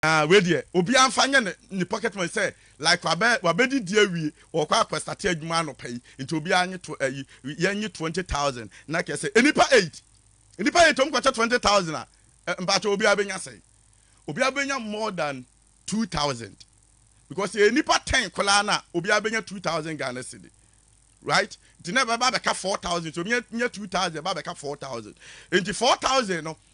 Aah wei deɛ obiara nfa nyɛ ne ne pocket money sɛ like wabɛ wabɛdidi awie ɔɔkɔ akɔ starte adwuma anɔpa yi nti obiara nye tw ayi yɛnye twenty thousand na kɛsɛ nnipa eight nnipa eight ɔmo kɔkyɛ twenty thousand a ɛ mpakyɛw obiara bɛnya sɛn obiara bɛnya more than two thousand because yɛyɛ nnipa ten koraa no a obiara bɛnya two thousand Ghana cedi right nti na ɛbɛba abɛka four thousand nti obiara nya two thousand ɛba abɛka four thousand nti four thousand no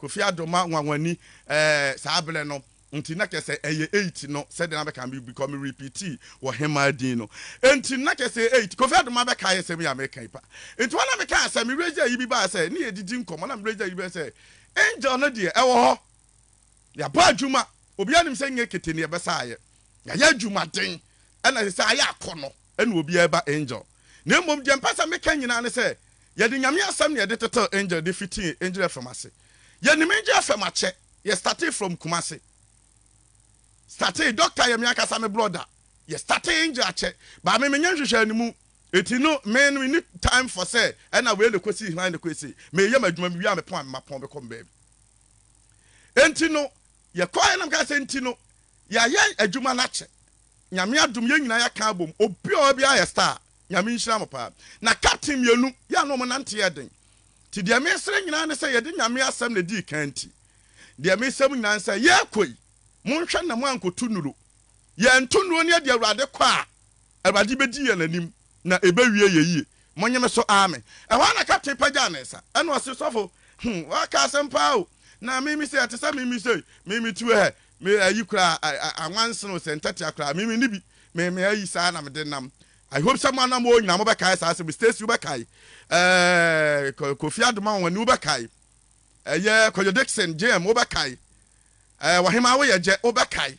Kofi Addo ma nwanwani ɛɛ saa berɛ no nti na kyerɛ sɛ ɛyɛ eight no sɛdeɛ na bɛka no because me repeatii ɔhemaa din no nti na kyerɛ sɛ eight Kofi Addo ma bɛkae asɛm yi a meka yi pa nti hɔ na mekaa sɛ me raise ayi bi baa sɛ ne yɛdidi nkɔmmɔ na me raise ayi bi baa sɛ Angel no deɛ ɛwɔ hɔ yɛabɔ adwuma obiara nim sɛ nyɛ kete ne yɛbɛsaeɛ yɛayɛ adwumaden ɛna ɛsɛ sɛ ayɛ akɔnɔ ɛna obiara ɛba angel na mmom deɛ mpɛ sɛ meka nyinaa ne sɛ yɛde nyame asɛm na yɛde tetɛw angel de fitii angel fm ase yɛnim angel fm akyɛ yɛ startee from kumase startee doctor yɛ me ankasa me brɔda yɛ startee angel akyɛ baa me menyɛ nhwehwɛ ne mu eti no me no ni time for sɛ ɛna wei ne kɔsi hran ne kɔsi meyɛ m'adwuma me wie a mepɔn a mema pɔn bɛkɔ mbaabi enti no Yɛkɔeɛ na mekaa sɛ, nti no yɛayɛ adwuma no akyɛ, Nyame adom yɛn nyinaa yɛaka abom, obi a ɔwɔ biara yɛ star, Nyame nhyira mo paa. Na captain mmienu yɛ a na wɔn nante yɛ den, nti deɛ mesrɛ nyinaa ne sɛ yɛde Nyame asɛm na ɛdii kan nti deɛ mesrɛ mo nyinaa ne sɛ yɛrekɔ yi monhwɛ na moankoto nnuro, yɛnto nnuro no yɛde Awurade kɔ a Awurade bedi yɛn anim, na ebewie yɛn yiye. Monnye me so, aame. Ɛhɔ ara na kapten pagyaw ne nsa, ɛnna ɔse, Sɔfo, hmm, woaka asɛm paa o! Na mimi sɛ ɛte sɛ mimi sei, mimi tuo hɛ, me ayi koraa, a, a, anwansen o, sɛ ntɛtea koraa, mimi nni bi, me, me ayi saa na mede nam. I hope sɛ mo anamoo nyinaa mobɛkae saa asɛm yi. Stacy, wobɛkae. Ɛɛ, Ko, Kofi Adomawane, wobɛkae. Ɛyɛ Kojo Dickson, JM, wobɛkae. Ɛɛ, Ɔhemaa Woyɛgyɛ, wobɛkae.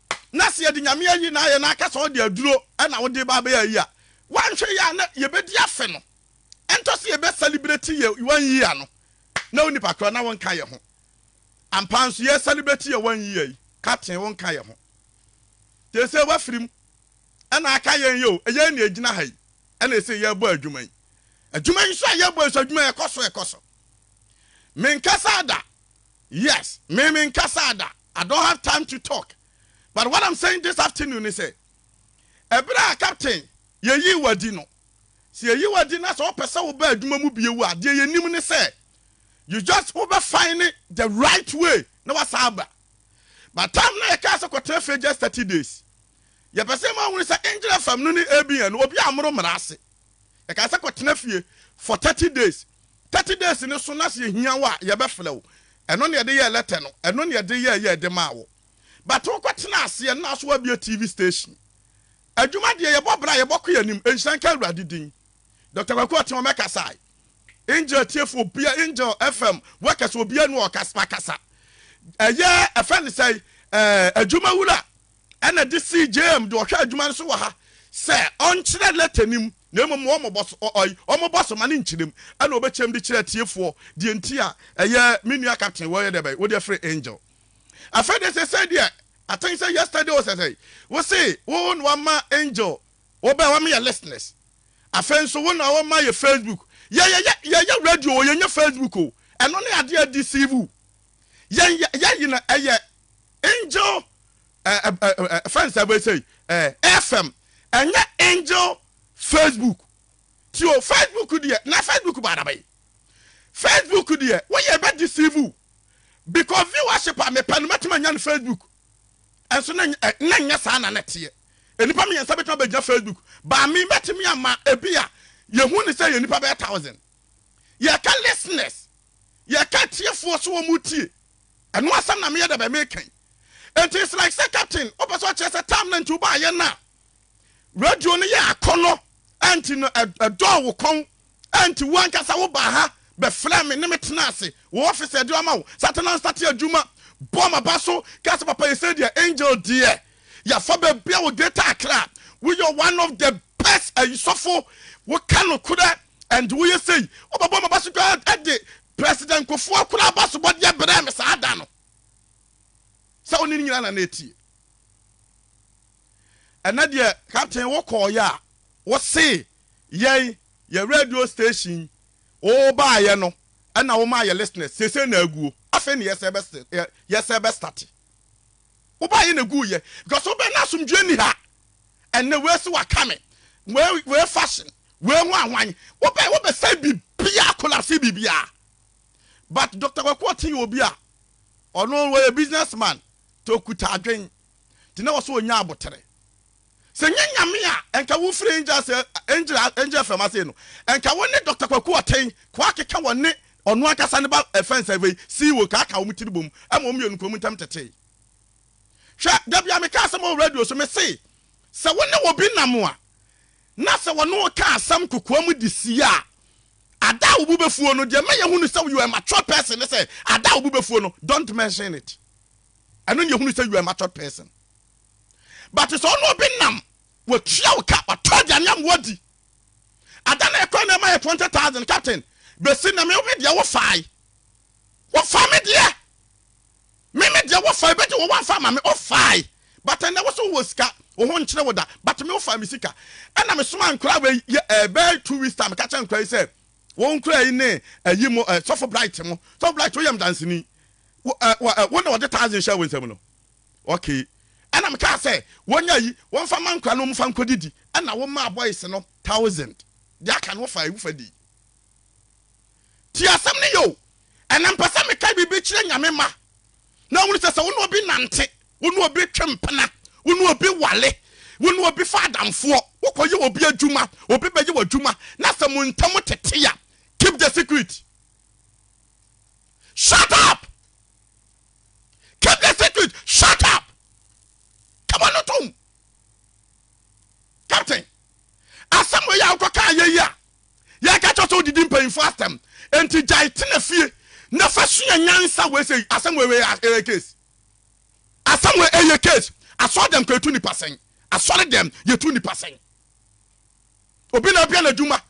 na sɛ yɛde Nyame ayi na ayɛ na aka sɛ ɔde aduro na wode ba abɛyɛ ayi a, woanhwɛ yie a na yɛbɛdi afe no. Ɛntɔ sɛ yɛbɛ celebrate yɛ one year no na wo nipa korɔ na wonka yɛ ho. Ampa nso yɛ celebrate yɛ one year yi, Captain wonka yɛ ho. Seesei woafiri mu na aka yɛn yi o, yɛn na ɛgyina ha yi na ɛsei yɛrebɔ adwuma yi. Adwuma yi nso a yɛrebɔ yi nso adwuma yi ɛkɔ so ɛkɔ so. Me nkasaa da yes me me nkasaa da I don't have time to talk but what I'm saying this afternoon ne sɛ ɛberɛ a captain yɛyii wadi no sɛ yɛyi wadi na sɛ wopɛ sɛ woba adwuma mu bio a deɛ yɛnim ne sɛ you just wobɛfan ne the right way na wasan aba but time na yɛkaa sɛ kɔtena fie just 30 days yɛpɛ sɛ ma wone sɛ engyina fam no ne abn no obi a mmoro mmara ase Yɛkaa sɛ kɔtena fie for thirty days. Thirty days no so na sɛ yɛhia wo a, yɛbɛfrɛ wo. Ɛno na yɛde yɛɛ letter no. Ɛno na yɛde yɛɛ yɛɛ de maa wo. But wokɔtenaa aseɛ no na wo so woabue TV station. Adwuma deɛ yɛbɔ bra a, yɛbɔkɔ yɛn anim. Nhyira nka Awurade din. Doctor Kwaku Ɔteɔm ɛkasae. Angel atiefoɔ obiara, Angel FM workers obiara ni hɔ a ɔkasa, wakasa. Ɛyɛ ɛfɛ ne sɛn, ɛɛ, Adwumawura ɛna de sii James de ɔhwɛ adwuma no so wɔ ha sɛ ɔnkyerɛ lɛtɛ no mu na mmom ma wɔmmɔ so ɔɔy, wɔmmɔ so ma no nkyerɛ mu, ɛna ɔbɛkyerɛm de kyerɛ atiefoɔ deɛ nti a ɛyɛ me nua Captain wɔyɛ dɛbɛn wode afiri Angel. Afei deɛ sɛsɛi deɛ I think sɛ yesterday o sɛsɛi wo se wo na wama Angel wɔbɛɛ wɔma yɛ listeners afei nso wo na wɔma yɛ Facebook yɛyɛ yɛyɛ radio o yɛnyɛ Facebook o ɛno ne adeɛ a deceive wo yɛn yɛ yɛ yi na ɛyɛ angel ɛɛ ɛɛ fɛn sɛ bɛ sɛ yi ɛɛ fm ɛnyɛ angel facebook ti o facebook deɛ na facebook ba adaba yi facebook deɛ wɔyɛ bɛ deceive because viewership a mepɛ no mɛtuma nya no facebook ɛnso na na nyɛ saa na na teɛ nnipa mmiɛnsa bɛtuma bɛgyina facebook baa me mɛtumi ama ebi a yɛhu ne sɛ yɛ nnipa bɛyɛ thousand yɛka listeners yɛ ka atiefoɔ so wɔn tie ɛno asɛm na meyɛ dɛbɛn meka yi nti it's like sɛ captain wopɛ sɛ ɔkyerɛ sɛ time no nti wobaayɛ no a radio no yɛ akɔnɔ ɛnti no ɛdɔɔ wo kɔn ɛnti wo ankasa wobaa ha bɛfrɛ me ne me tena ase wo office ɛde ama wo satenansa te adwuma bɔ maba so ka sɛ papa yɛ sɛ deɛ angel deɛ Yafa bɛbia wo greater Accra woyɛ one of the best ayisɔfo woka nokorɛ and woyɛ sei wobɛbɔ ma baso dwa ɛde president kofoɔ koraa baso bɔdeɛ berɛ me saa da no sɛ wo ne nyina na na ɛtie ɛnɛ deɛ captain wo kɔɔyɛ a wo se yɛn yɛ radio station wo baayɛ no ɛna wo ma yɛ listeners sese na aguo afei ne yɛsɛ bɛ yɛsɛ bɛ start Woba yɛ na egu yɛ because wobɛ na asomdwie ni ha ɛnɛ wei se waka me wei wei fashion wei hwan hwan wobɛ wobɛ sɛ bibia collapse bibia but Dr. Kwaku Ɔte yɛ obi a ɔno wɔyɛ business man to okuta adwen te na wɔso onya abotere Sɛ ɛnyɛ Nyame a nka wo firi angel se angel angel fm ase no nka wo ne Doctor Kwaku Ɔtɛn kɔ akeka wɔ ne ɔno ankasa ne ba fɛns a wei CEO ka aka wɔn tiri bom ma wɔn mmienu kɔ wɔn ntɛm tetee hwɛ da bia me ka asɛm wɔ radio so me se sɛ wo ne obi nam a na sɛ wɔne wo ka asɛm kokoa mu de sie a ada a wo bo bɛfuo no deɛ mɛyɛ hunu sɛ you are a mature person ne sɛ ada a wo bo bɛfuo no don't mention it ɛno ne yɛ hunu sɛ you are a mature person but sɛ ɔne obi nam watua wo ka watɔ aduane ama wadi ada na ɛkɔ na ɛma yɛ twenty thousand captain bɛsi na me me deɛ wo fae wo fa me deɛ me me deɛ wo fae bɛgye wo wanfa ma me wo fae but ɛnɛ wo so wɔ sika wo ho nkyerɛ wo da but me wo fae me sika ɛna me soma nkora wei yɛ ɛbɛɛ two weeks time ka kyɛ nkora yi sɛ wɔn nkora yi ne ɛyi mo ɛsɔfo bright mo sɔfo bright woyɛ mdansini wo ɛɛ wo na wɔde thousand hyɛ wo nsam no. Okay. Ɛna me kaa sɛ wɔnya yi wɔmfa ma nkora na wɔmfa nkɔ didi. Ɛna wo maa boys no thousand. Deɛ aka no wɔfaa ewu fa dii. Tie asɛm no yie o. Ɛna mpɛ sɛ me ka biribi kyerɛ Nyame ma na hunu sɛ sɛ wo ne obi nante, wo ne obi twe mpena, wo ne obi ware, wo ne obi fa adamfoɔ, wo kɔ yɛ obi adwuma, obi bɛyɛ w'adwuma na sɛ mo ntam tete a, keep the secret. Shut up! Keep the secret. Shut up. Kama no tom. Captain, asɛm wei a wokɔ kaa yɛ yi a, yɛka kyɛ sɛ wodidi mpanyinfoɔ asɛm. Enti gyae tena fie na fa sua nyansa wei sɛ asɛm wei wei ɛyɛ case. Asɛm wei ɛyɛ case. Asɔre dɛm kɔ yɛtu nipa sɛn. Asɔre dɛm yɛtu nipa sɛn. obi na abia n'adwuma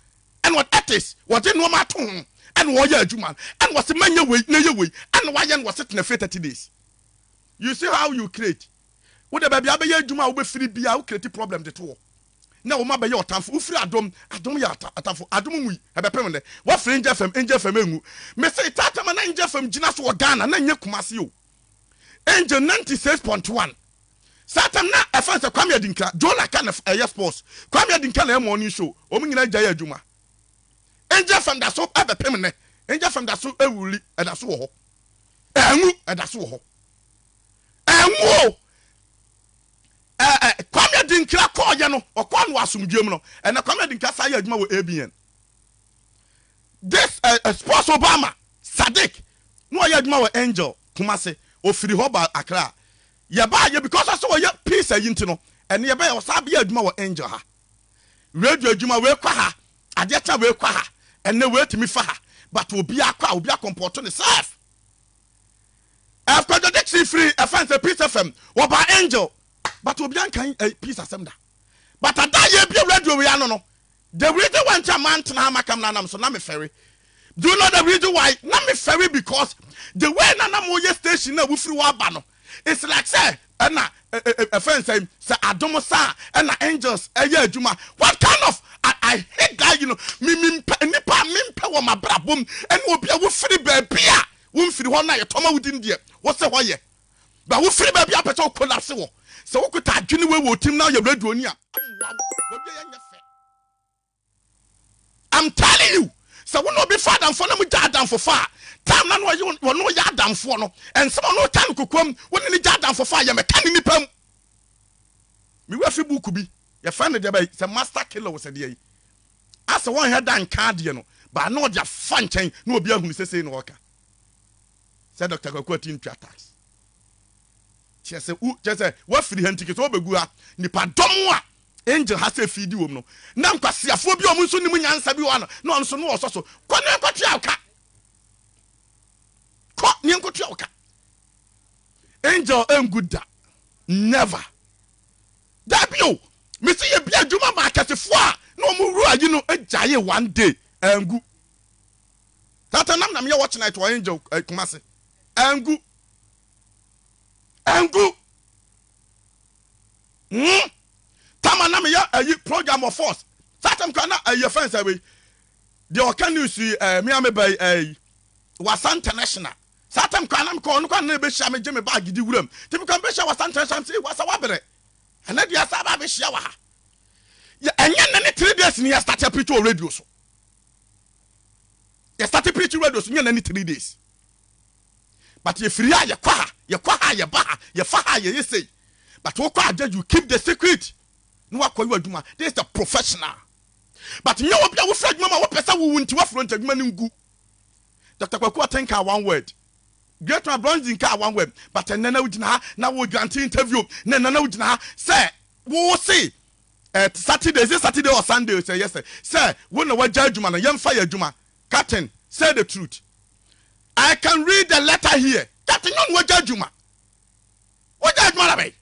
ɛna ɛtis wɔde nneɛma ato ho ɛna wɔyɛ adwuma no ɛna wɔsi mɛnyɛ wei na yɛ wei ɛna wɔayɛ no wɔsi tena fie thirty days you see how you create wo de baabi abɛyɛ adwuma a wobɛfiri bi a wo create problem de to hɔ na wɔn abɛyɛ ɔtamfo wofiri adom adom yɛ atamfo adom mu yi ɛbɛpem dɛ wɔfiri ngya fam ngya fam engu mese taatama na ngya fam gyina so wɔ Ghana na nyɛ kumase o Angel ninety six point one Satan na ɛfɛn sɛ Kwame Adinka, Jonah ka na ɛyɛ sports, Kwame Adinka na ɛyɛ morning show, wɔn nyinaa gyae adwuma. Angel FM da so ɛbɛpem nnɛ, Angel FM da so ɛwuli, ɛda so wɔ hɔ, ɛnwu, ɛda so wɔ hɔ, ɛnwu o. Ɛɛ Kwame Adinka kɔɔyɛ no, ɔkɔɔ no wɔ asomdwoeɛ mu no, ɛnna Kwame Adinka san yɛ adwuma wɔ ABN. This ɛ ɛ sports Obama Sadiq na ɔyɛ adwuma wɔ Angel Kumasi, ɔfiri hɔ baa Accra. Yɛbaa yɛ because ɔsɛ ɔyɛ peace ayi nti no, ɛnneɛ bɛyɛ ɔsan bɛyɛ adwuma wɔ Angel ha. Radio adwuma wei kɔ ha, adeɛ kye a wei kɔ ha, ɛnnɛ wei tumi fa ha but obiara kɔ a obi akɔmpɔɔto ne self. Ɛf Kwadwo Dickson firii ɛfɛn sɛ Peace FM, ɔbaa Angel but obiara nkan ɛ peace asɛm da. But ada a yɛbue radio wei ano no, the reason why nti a mantena ha maka mmra nam so, na mefɛre. Do you know the reason why? Na mefɛre because the way na na moyɛ station no a wofiri hɔ aba no, it's like sɛ ɛna ɛfɛn sɛ sɛ adom sa a ɛna angels ɛyɛ adwuma. What kind of I, I hate that you know me me mpɛ nnipa a mempɛ wɔ m'abrabɔ mu ɛne obi a wofiri baabi a womfiri hɔ na yɛtɔma wo din deɛ wose hɔ yɛ. Ba wo firi baabi a wopɛ sɛ wo collapse wɔ. Sɛ wo kuta adwene wei wɔ wo tirim na woyɛ radio ni a, ɛmmoa wo. W'awie yɛ nyɛ fɛ. I'm telling you, sɛ wo ne obi fa adamfoɔ na mo gya adamfofa a, time na na ɔye wɔne wo yɛ adamfoɔ no, ɛnsɛm a ɔne wo ka no kokoam, wo ne no gya adamfofa a, yɛ mɛka ne nipa mu. Me wura fi book bi, yɛfrɛ no deɛ bɛyi, sɛ master killer o sɛ deɛ yi, asɛ wɔnhɛ da nka adeɛ no, but na ɔde afa nkyɛn na obi ahunu sɛ sei na ɔreka. Sɛ Doctor Kwaku a ɔte Ntwa tax. Kyerɛ sɛ wo kyerɛ sɛ woafiri ha nti kesɛ wobɛgu ha. Nnipadɔm a Angel ha sɛ fiidi wɔ mu no, na nkwaseafoɔ bi a wɔn nso nim nyansa bi wɔ ha no, na wɔn nso no wɔsɔ so. Kɔ na nkɔtua wo ka. Kɔ na nkɔtua wo ka. Angel ɛngu da. Never. Dabi o. Mesi yɛ bi adwuma ma akɛsefoɔ a na wɔn wura yi no gyae one day. Ɛngu. That nam na meyɛ watch night wɔ Angel eh, Kumasi. Angu. Angu. Hmm. Tama na meyɛ ayi eh, program wɔ force. That time kura na ayi eh, fɛn sɛ wei. Deɛ ɔka news yi eh, me a me ba yi eh, wasa international. Saa time kura na mekɔ ɔno kɔ na ɛbɛhyia me gye me baagi di wuram. Ti mekɔ mbɛhyia wasa international sɛ wasa wabrɛ. Ɛnɛ deɛ asa aba abɛhyia wɔ ha. Ɛnyɛ nne ne three days ni yɛ start apirikyi wɔ radio so. yɛ starte preach radio so nyɛ na ne three days but yɛ firi ha yɛ kɔ ha yɛ kɔ ha yɛ ba ha yɛ fa ha yɛ yɛ sei but wo kɔ agya you keep the secret na wakɔ yɛ adwuma this is the professional but nyɛ obi a wofiri adwuma ma wopɛ sɛ wowu nti wafuro nti adwuma no ngu Dr. Kwaku Aten kaa one word Great man Bronson kaa one word but ɛnɛ na wogyina ha na wo grante interview na ɛnɛ na wogyina ha sɛ wo se ɛɛ saturday is it saturday or sunday sɛ yɛ sɛ sɛ wo na wagya adwuma no yɛmfa yɛ adwuma captain say the truth i can read the letter here captain nyɛ ɔno wagya adwuma wagya adwuma na bɛyi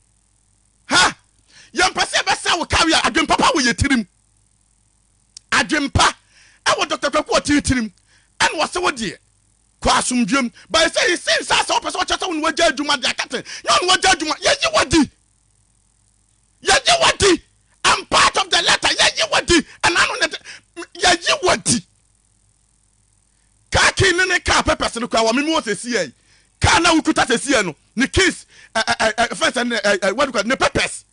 ha yɛmpɛ sɛ yɛbɛsɛ wo kawe a adwempapa wɔ yɛ tirim adwempa ɛwɔ dr kwaku ɔtee tirim ɛna wɔsɛ wo deɛ kɔ asomdwam but sɛ yɛsi nsa sɛ wopɛ sɛ wɔkyɛ sɛ wo na wagya adwuma deɛ captain nyɛ ɔno wagya adwuma yɛyi wadi Yɛyi w'adi. I'm part of the letter. Yɛyi w'adi. Ɛna ano ne yɛyi w'adi. Car key ne ne car papers no kura wɔ me mu wɔ sɛsi yɛ yi. Car na wokuta sɛsi yɛ no, ne keys, ɛ ɛ ɛ ɛ fɛn sɛ ne ɛ ɛ what do you call ne papers.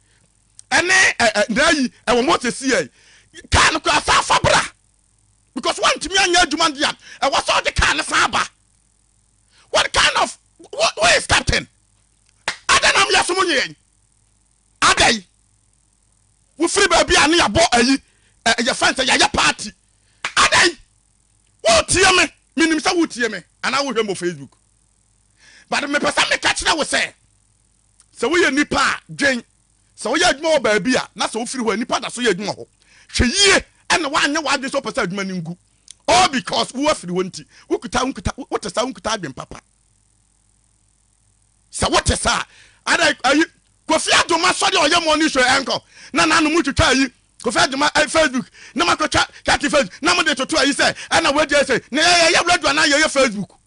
Ɛne ɛ ɛ na ayi ɛwɔ mu wɔ sɛsi yɛ yi. Car no kura saa fa bra. Because wantumi anyɛ adwuma deɛ ɛwɔ sɛ ɔde car no san ba. What kind of who, who is captain? Adɛn na wiase mu nye yɛn? Adɛn? Wofiri baabi a ne yɛabɔ ayi, ɛ, yɛfrɛ no sɛ yɛayɛ party. Adɛn? Woretie me, menim sɛ woretie me, anaa wohwɛ me wɔ Facebook. But mepɛ sɛ meka kyerɛ wo sɛ, sɛ woyɛ nipa a, dwen, sɛ woyɛ adwuma wɔ baabi a, na sɛ wofiri hɔ a, nipa da so yɛ adwuma hɔ. Hwɛ yie na woanyɛ w'adwene sɛ wopɛ sɛ adwuma no ngu. All because wo afiri hɔ nti, wokuta, wokuta, wote saa, wokuta adwene papa. Sɛ wote saa a, ada ayi Kofi Adwom asɔre a ɔyɛ morning show ɛnkɔ na n'ano mu twitwa ayi Kofi Adwom eh, Facebook na makɔtwa kati Facebook na mode toto ayi sɛ ɛna wadi ɛsɛ na yɛyɛ radio anaa yɛyɛ Facebook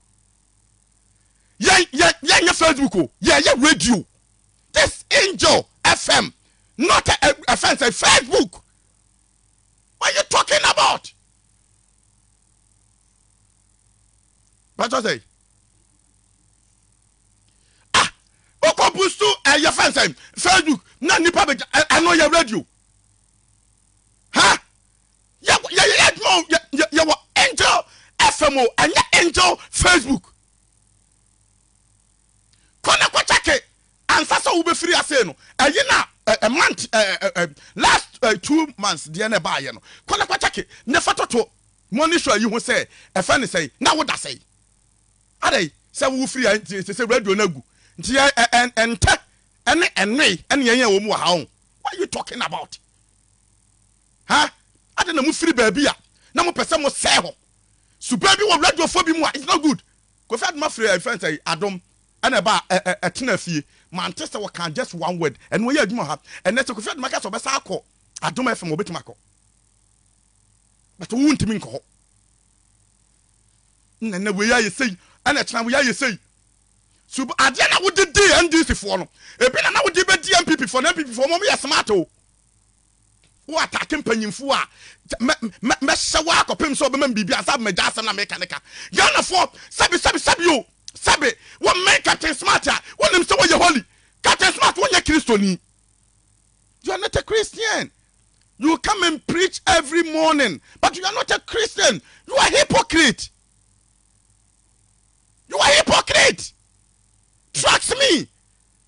yɛnyɛ Facebook o yɛyɛ radio this angel FM not a, a, a fence, a Facebook what are you talking about? But I say a ah, wokɔ busto ɛyɛ eh, fɛn sɛ facebook na nnipa bɛgya eh, ɛno yɛ radio ha yɛyɛ adwuma yɛwɔ angel fm o ɛnyɛ angel facebook kɔ ne kɔkyɛke ansa sɛ wobɛfiri ase no ɛyi na a month last two months deɛ na ɛbaayɛ no kɔ ne kɔkyɛke ne fa toto mɔnisɔ yi ho sɛ ɛfɛ ne sɛi na woda sɛi Adɛn, sɛ wo firi ha nti ɛsɛ sɛ radio no agu? Nti yɛ ɛntɛ ɛne ɛnoe ɛne yɛn yɛn wɔ mu wɔ ha ɔn? What are you talking about? Ha? Adɛn na mo firi baabi a na mo pɛ sɛ mo sɛɛ hɔ? Suban bi wɔ radio foɔ bi mu a it's not good. Kofi Adom afiri ɛfɛ nsɛ yi Adom ɛna ɛba a ɛtena fie mante sɛ wɔka just one word ɛno ɔyɛ adwuma ha ɛnɛ sɛ Kofi Adom aka sɛ ɔbɛsa akɔ Adom FM ɔbɛtumi akɔ but wo ntumi nkɔ hɔ. na na wei ayɛ sei, ɛna kyena wei ayɛ sei. So adeɛ na wode di NDC foɔ no, ebi na na wode bɛdi NPP foɔ no, NPP foɔ wɔn yɛ smart o. Wo atake mpanyinfoɔ a, mɛ mɛ mɛhyɛ wo akɔpem sɛ ɔbɛma biribi ansa bɛma gya asɛm na meka ne ka. Ghana foɔ, sɛbi sɛbi sɛbi o, sɛbi, wɔn mɛn Captain Smart a, wɔnim sɛ wɔyɛ holy. Captain Smart wɔnyɛ Kristoni. You are not a Christian you come and preach every morning but you are not a Christian you are hypocrite you are hypocrite trust me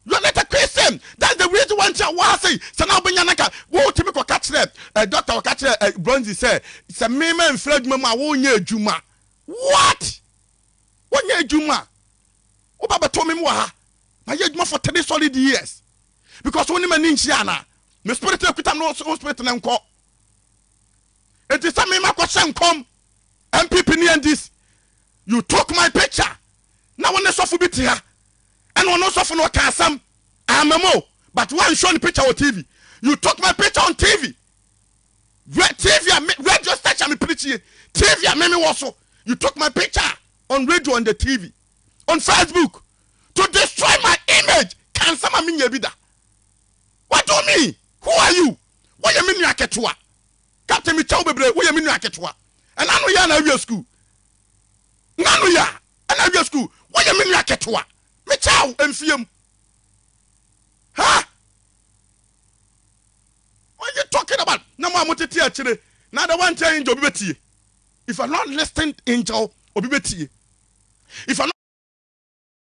you are not a Christian that's the reason why nkyɛn wɔha sɛ sɛ na wobɛnya naka wotumi kɔka kyerɛ ɛ dɔkta wɔka kyerɛ ɛ bronze sɛ sɛ mema mfiri adwuma mu a wonyɛ adwuma what wonyɛ adwuma woba bɛtɔ me mu wɔ ha mayɛ adwuma for three solid years because wo ne m'ani nhyia ana me spirit na kuta me wo spirit na nkɔ eti sɛ me makɔ hyɛ nkɔm MPP ne NDC you took my picture na wo ne sɔfo bi te ha ɛna ɔno sɔfo no ɔka asɛm amamo but one show ne picture wɔ TV you took my picture on TV TV a radio station me pirikyi TV a me me wɔ so you took my picture on radio and the TV on Facebook to destroy my image ka nsɛm a menyɛ bi da what do you mean who are you woyɛ me nua ketewa captain mekyɛ wo bebree woyɛ me nua ketewa ɛna ano yɛ na awie school na ano yɛ ɛna awie school woyɛ me nua ketewa mekyɛ wo mfie mu ha what you talking about na mo a motete akyire na ada wankyɛ angel bi bɛtie If I not listened angel obi bɛtie if I not.